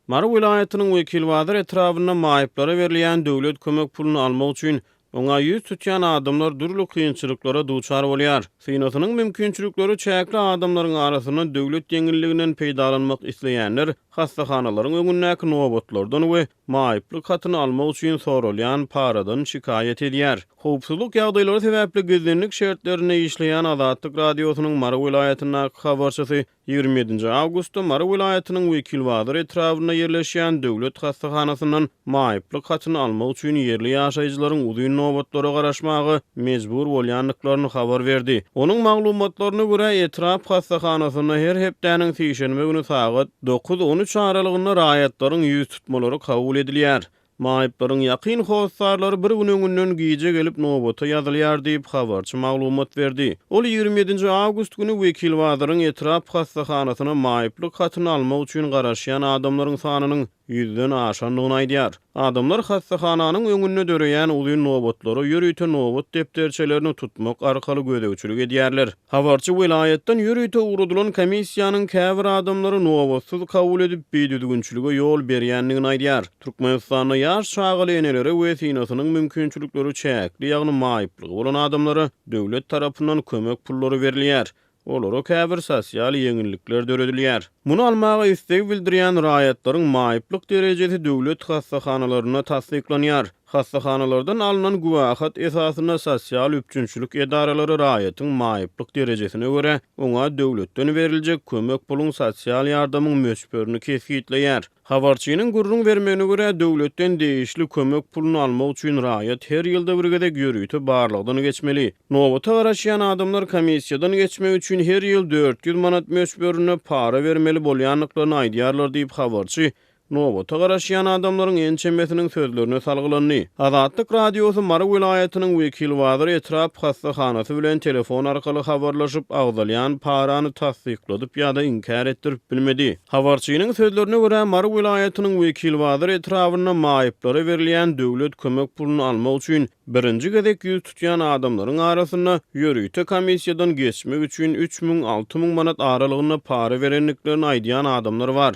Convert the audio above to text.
Mary welaýatynyň Wekilbazar etrabynda maýyplara berilýän döwlet kömek puluny almak üçin oňa ýüz tutýan adamlar dürli kynçylyklara duçar bolýar. Synasynyň mümkinçilikleri çäkli adamlaryň arasynda döwlet ýeňilliginden peýdalanmak isleýänler hassahanalaryň öňündäki nobatlardan we maýyplyk hatyny almak üçin soralýan paradan şikaýat edýär. Howpsuzlyk ýagdaýlary sebäpli gizlinlik şertlerinde işleýän Azatlyk Radiosynyň Mary welaýatyndaky habarçysy Ýigrimi ýedinji awgustda Mary welaýatynyň Wekilbazar etrabynda ýerleşýän döwlet hassahanasyndan maýyplyk hatyny almak üçin ýerli ýaşaýjylaryň uzyn nobatlara garaşmaga mejbur bolýandyklaryny habar berdi. Onuň maglumatlaryna görä, etrap hassahanasyna her hepdäniň sişenbe güni sagat dokuz-on üç aralygynda raýatlaryň ýüztutmalary kabul edilýär. Maýyplaryň ýakyn hossarlary bir gün öňünden gijä gelip nobata ýazylýar diýip, habarçy maglumat berdi. Ol ýigrimi ýedinji awgust güni Wekilbazaryň etrap hassahanasyna maýyplyk hatyny almak üçin garaşýan adamlaryň sanynyň ýüzden aşandygyny aýdýar. Adamlar hassahananyň öňünde döreýän uzyn nobatlara ýörite nobat depderçelerini tutmak arkaly gözegçilik edýärler. Habarçy welaýatdan ýörite ugradylan komissiýanyň käbir adamlary nobatsyz kabul edip, bidüzgünçilige ýol berýändigini aýdýar. Türkmenistanda ýaş çagaly enelere we synasynyň mümkinçilikleri çäkli, ýagny maýyplygy bolan adamlara döwlet tarapyndan kömek pullary berilýär, olara käbir sosial ýeňillikler döredilýär. Muny almaga isleg bildirýän raýatlaryň maýyplyk derejesi döwlet hassahanalarynda tassyklanýar. Hassahanalardan alnan güwähat esasynda sosial üpjünçilik edaralary raýatyň maýyplyk derejesine görä, oňa döwletden beriljek kömek puluň sosial ýardamyň möçberini kesgitleýär. Habarçynyň gürrüň bermegine görä, döwletden degişli kömek puluny almak üçin raýat her ýylda bir gezek ýörite barlagdan geçmeli. Nobata garaşýan adamlar komissiýadan geçmek üçin her ýyl dört ýüz manat möçberinde para bermeli bolýandyklaryny aýdýarlar diýip, habarçy Nobata garaşýan adamlaryň ençemesiniň sözlerine salgylandy. Azatlyk Radiosy Mary welaýatynyň Wekilbazar etrap hassahanasy bilen telefon arkaly habarlaşyp, agzalýan parany tassykladyp ýa-da inkär etdirip bilmedi. Habarçynyň sözlerine görä, Mary welaýatynyň Wekilbazar etrabynda maýyplara berilýän döwlet kömek puluny almak üçin birinji gezek ýüz tutýan adamlaryň arasynda ýörite komissiýadan geçmek üçin üç müň, alty müň manat aralygynda para berendiklerini aýdýan adamlar bar.